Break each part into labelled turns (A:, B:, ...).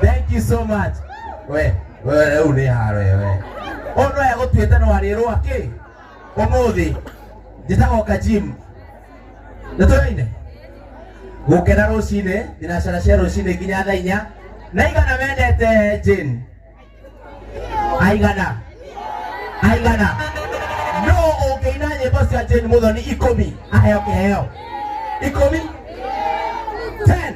A: thank you so much we we rĩu nĩ haro we ũndũ aya gũtuĩte no arĩrwo akĩ ũmũthĩ njĩtagoka gym nĩ tũraine gũkena rũcinĩ thinacara cia rũcinĩ nginya thaa inya na igana mendete Jane aigana aigana no ũngĩina nyĩmbo cia jane mũthoni ikũmi aheo kĩheo ikũmi ten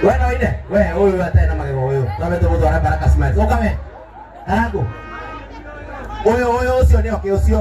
A: we no ine we ũyũ atarĩ na magego ũyũ twambe tũmũtwara baraka smiles ũka we karangu ũyũ ũyũ ũcio nĩ oke ũcio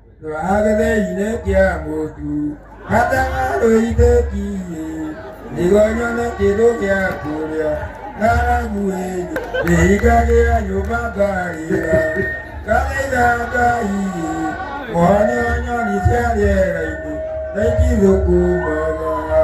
B: ndwagetheinĩ kĩa mũtu gatanga rũitĩkiĩ nĩguo nyone kĩndũ gĩa kũrĩa ngaraguĩ ndĩhingagĩra nyũmba ngarĩra ngathaitha ngai mone nyoni cia rĩera-inĩ na itigũkumaga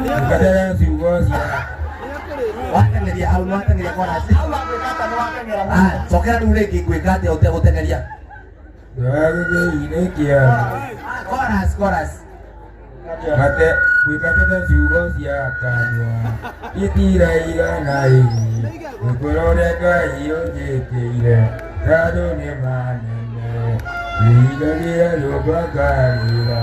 B: Mkatele viongozi. Watengeria
A: hau ni watengeria kwa nasi. Ah, sokera rĩu rĩngĩ ngwĩka atĩa ũtegũtengeria? Ndagĩgĩinĩkia.
B: Ah, Chorus, chorus. Mate gwĩkatete ciugo cia kanua itiraigana ĩ gũkũra ũrĩa Ngai ũnjĩkĩire tandũ nĩ manene ihinga rĩa nyũmba ngarĩra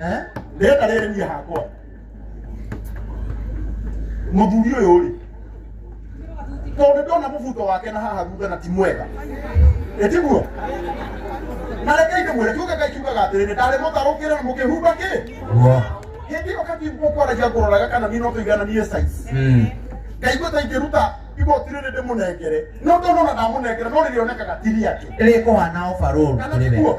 A: Eh? rĩrĩa
C: rĩrĩ niĩ hakwa mũthuri ũyũ rĩ tondũ ndona mũbuto wake na haha thutha na ti mwega ĩtiguo na rekei ndĩmwĩre kiuga ngai kiugaga atĩrĩrĩ ndarĩ mũtarũkĩre na mũkĩhumba kĩ Guo. hĩndĩ ĩyo katigwo kwaragia ngũroraga kana niĩ no tũigananie size Mm. ngaigua ta ingĩruta igoti rĩrĩ ndĩmũnengere no ndonona ndamũnengere no rĩrĩonekaga ti rĩake Rĩkũhana ũbarũrũ
A: kana kũrĩ we. tiguo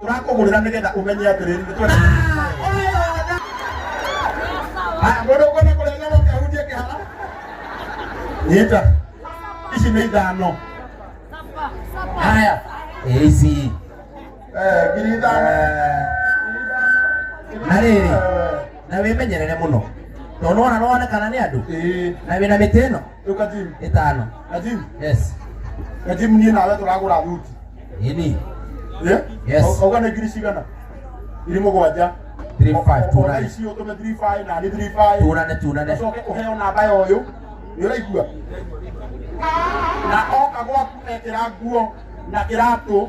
C: Tũrakũgũrĩra nĩgetha ũmenye atĩrĩrĩ nĩ twende. Haya, mũndũ ũkwenda kũrenga gũkĩ ahunjie kĩhara. Nyita. Ici nĩ ithano. Haya.
A: Ici. Eh, ngiri
C: ithano. Eh,
A: Na rĩrĩ, na wĩmenyerere mũno. Tondũ ona nĩwonekana nĩ andũ. Ĩĩ. Na wĩna mĩtĩ ĩno. Rĩu Kajim, ĩtano
C: Kajim,
A: yes Kajim niĩ
C: nawe tũragũra thuti. ini
A: Eh?
C: Yes. Au- Auga nĩ ngiri cigana? Ngiri mũgwanja. 35 Ona tunane
A: ici ũtũme 35
C: na niĩ 35. tunane tunane Ũcoke ũheo
A: namba ya
C: ũyũ. Nĩ ũraigua? Na oka gwaku ekĩra nguo na kĩratũ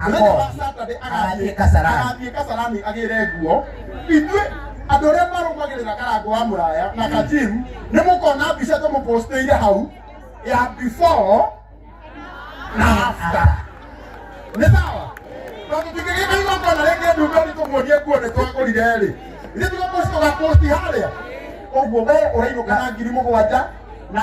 C: mũthenya wa saturday agathiĩ kasarani agathiĩ kasarani agĩre nguo ithuĩ andũ arĩa marũmagĩrĩra karango wa mũraya na kajim nĩ mũkona mbica tũmũpostĩire hau ya before na after nĩ sawa tondũ tingĩgĩka igongona rĩngĩ ndumbe nĩ tũmuonie nguo nĩ twagũrire rĩ ithuĩ tũgaposti harĩa ũguo we ũrainũka na ngiri mũgwanja na